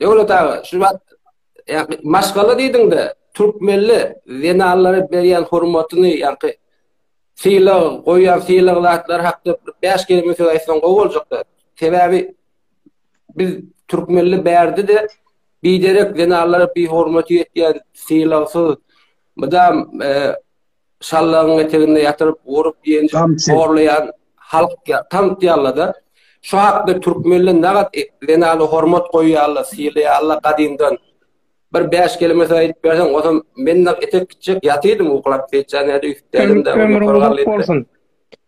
Döwlet aga, şu wagt ýa maşgala diýdiňde, türkmenli zenanlara berýän hormatyny, ýa-da sylag, goýýan sylag zatlary hakda bir bäş kelime söz aýtsaň gowy boljakdy. Sebäbi biz türkmenli bärde-de biderek zenanlara bihormaty ýetýär, sylagsyz, mydam e, şallagyň eteginde ýatyryp, urup, ýenjip, horlaýan halk ýa tanitýarlar-da. Şu hakda türkmenler nagat zenana hormat goýýarlar, sylaýarlar gadymdan. Bir bäş kelimesini aýdyp berseň, ozam men nag etek gitjek ýatydym uklap, seýitjanyýada üýtüpdädim-de. Ömrüň uzak bolsun.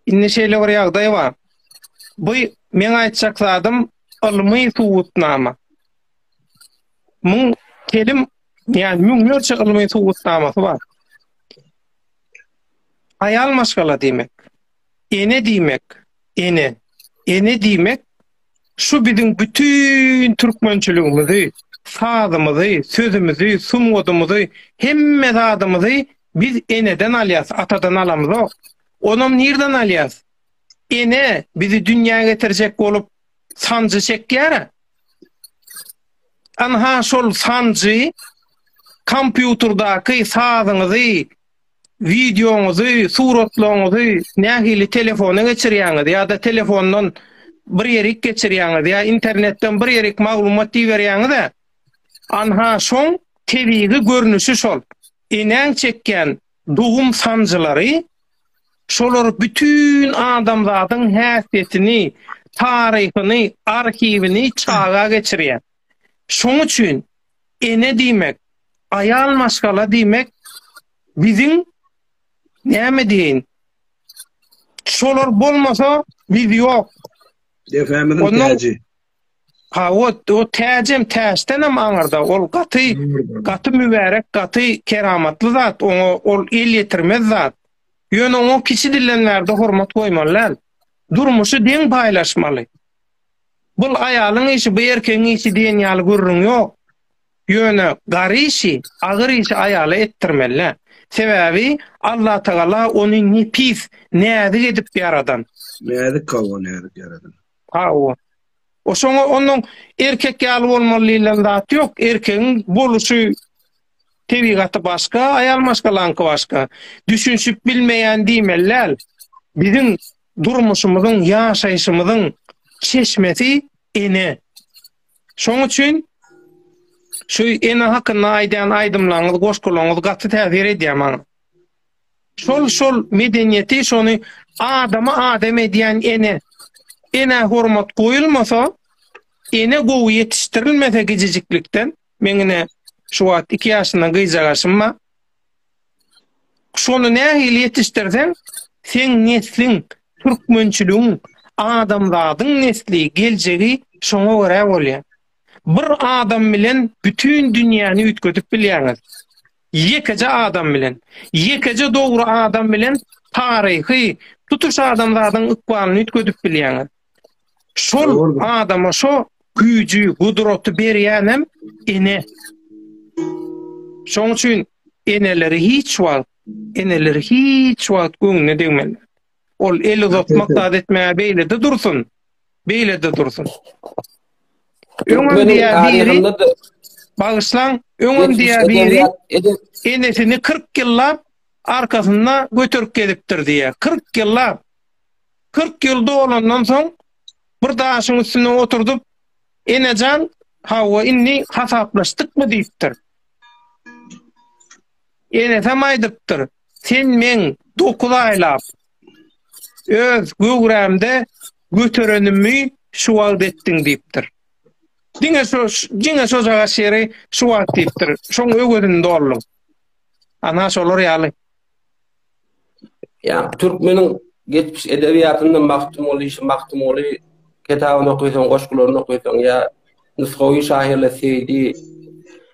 Indi şeýle bir ýagdaý bar. Bu meň aýtjak zadym ylmy subutnama. Muň telim, ýa müňlerçe ylmy subutnamasy bar. Aýal maşgala diýmek. Ene diýmek. Ene. Ene diýmek şu biziň bütin türkmençiligimizi, sazymyzy, sözümizi, sungatymyzy, hemme zadymyzy biz eneden alýas, atadan alamzok. Onam nirden alýas? Ene bizi dünýä getirjek bolup, sanjy çekýär. Ynha şol sanjy kompýuterdaky sazyňyzy, wideoňyzy, suratlaryňyzy nähili telefona geçirýäňiz ýa-da telefondan bir ýerik geçirýäňiz ýa internetden bir ýerik maglumat iberýäňiz-ä, ynha şoň tebigy görnüşi şol. Enäň çekýän dogum sanjylary Şolar bütin adamzadyň häsiýetini, taryhyny, arhiwini çaga geçirýär. Şoň üçin ene diýmek, aýal maşgala diýmek biziň näme diýeýin, şolar bolmasa biz ýok. Depemiziň täji. Ha o, o täjem täçdenem aňyrda. Ol gaty, gaty mübärek, gaty keramatly zat. Oňa ol el ýetirmez zat. Ýöne oňa kiçi dilden bärde hormat goýmaly däl. Durmuşy deň paýlaşmaly. Bul aýalyň işi, bu erkegiň işi diýen ýaly gürrüň ýok. Ýöne gar işi, agyr işi aýala etdirmeli. Sebäbi Allatagala ony nepis, näzik edip ýaradan. Näzik, hawa, näzik ýaradan. Hawa. O şoňa onuň erkek ýaly bolmaly diýlen zat ýok. Erkegiň boluşy, tebigaty başga, aýal maşgalaňky başga. Düşünişip bilmeýän diýmeli däl. Biziň durmuşymyzyň, ýaşaýşymyzyň çeşmesi ene. Şoň üçin şu ene hakynda aýdýan aýdymlaryňyz, goşgularyňyz gaty täsir edýär maňa. Şol şol medeniýeti şony adamy adam edýän ene. Enä hormat goýulmasa, ene gowy ýetişdirilmese gijijiklikden, meň ine şu wagt iki ýaşyndan gyjagaşym bar. Şony nähili ýetişdirseň, seň nesliň, türkmençiligiň, adamzadyň nesli, geljegi şoňa görä bolýar. Bir adam bilen bütin dünýäni üýtgedip bilýäňiz. Ýekeje adam bilen, ýekeje dogry adam bilen taryhy, tutuş adamzadyň ykbalyny üýtgedip bilýäňiz. Şol adama şo güýji, gudraty berýänem ene. Şoň üçin eneleri hiç wagt, eneleri hiç wagt göwnüne degmelidir. Ol el uzatmak zat etmäge beýlede dursun. Beýlede dursun. Öňem diýä biri. Bagyşlaň, öňem diýä biri. Enesini 40 ýyllap arkasynda göterip gezipdir diýä. 40 ýyllap. 40 ýyl dolandan soň bir daşyň üstüne oturdyp, Enejan, hawa indi hasaplaşdykmy diýipdir. Enesem aýdypdyr, Sen meň dokuz aýlap öz göwrämde göterenimi şu wagt etdiň diýipdir. Diňe şo diňe şojagaz şeri şu wagt diýipdir. Şoň öwezini dolduň. Ana şolar ýaly. Ýa türkmeniň geçmiş edebiýatynda Magtymguly, şu Magtymguly kitabyny okaýsaň, goşgularyny okaýsaň ýa nusgawy şahyrlar Seýdi,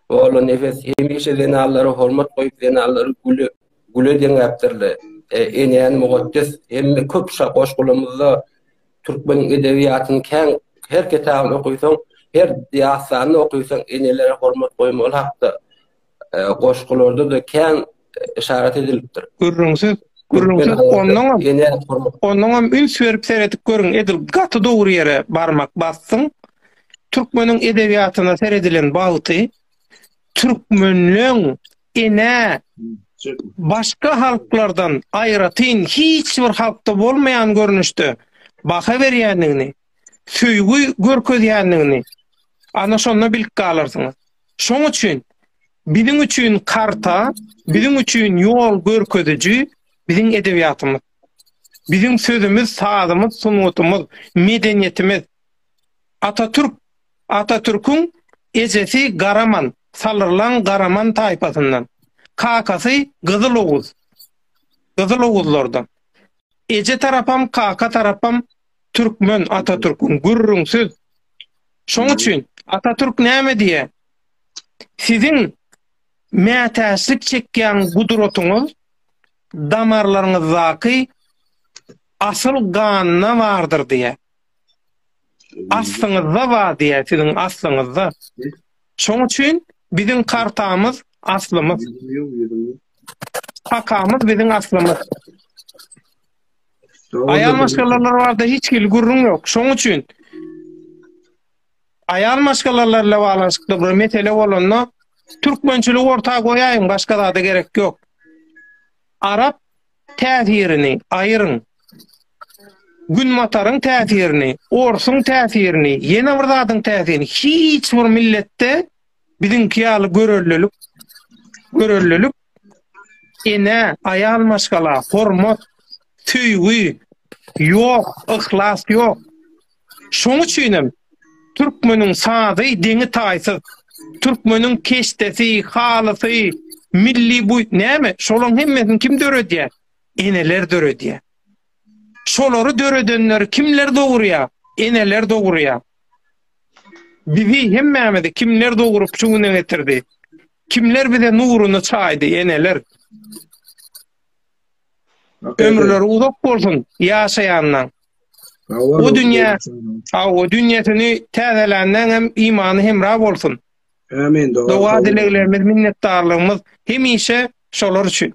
Ola Nefes hemişe zenanlara hormat goýup, zenanlary güle, güle deňäpdirler. E, enäni mukaddes hemme köp şa goşgularymyzda türkmeniň edebiýatyny kän her kitabyny okaýsaň, her diýastany okaýsaň, enelere hormat goýmaly hakda goşgularda-da kän yşarat edilipdir. Gürrüňsiz, gürrüňsiz onnoňam, onnoňam üns berip seredip görüň, edil gaty dogry ýere barmak basdyň. Türkmeniň edebiýatyna seredilen bagty, türkmenleň ene başga halklardan aýratyn hiç bir halkda bolmaýan görnüşde baha berýändigini, söýgi görkezýändigini ana şonda bilip galarsyňyz. Şoň üçin biziň üçin karta, biziň üçin ýol görkeziji biziň edebiýatymyz. Biziň sözümiz, sazymyz, sungatymyz, medeniýetimiz. Atatürk, Atatürküň ejesi Garaman, Salyrlaň Garaman taýpasyndan. Kakasy Gyzyloguz, Gyzyloguzlardan. Eje tarapam, kaka tarapam türkmen Atatürküň gürrüňsiz. Şoň üçin Atatürk näme diýýär? Siziň mätäçlik çekýän gudratyňyz damarlaryňyzdaky asyl ganda bardyr diýýär. Aslyňyzda bar diýýär, siziň aslyňyzda. Şoň üçin biziň kartamyz aslymyz. Kakamyz biziň aslymyz. Aýal maşgalalar barada hiç hili gürrüň ýok. Şoň üçin aýal maşgalalar bilen baglanyşykly bir mesele bolanda türkmençiligi orta goýaýyň, başga zada gerek ýok. Arap täsirini aýyryň. Günbataryň täsirini, orsuň täsirini, ýene bir zadyň täsirini hiç bir milletde Biziňki ýaly görellilik, görellilik enä, aýal maşgala, hormat, söýgi ýok, yhlas ýok. Şoň üçinem türkmeniň sazy deňi-taýsyz. Türkmeniň keşdesi, halysy, milli bu näme? Şolaň hemmesini kim döredýär? Eneler döredýär. Şolary döredenleri kimler dogurýar? Eneler dogurýar. Bizi, hemmämizi kimler dogrup şu güne getirdi? Kimler bize nuruny çaýdy, eneler? Ömürleri uzak bolsun ýaşaýanlaň. Bu dünýä, hawa, dünýäsini täzelänleň hem imany hemra bolsun. Amin. Doga dileglerimiz, minnetdarlygymyz hemişe şolar üçin.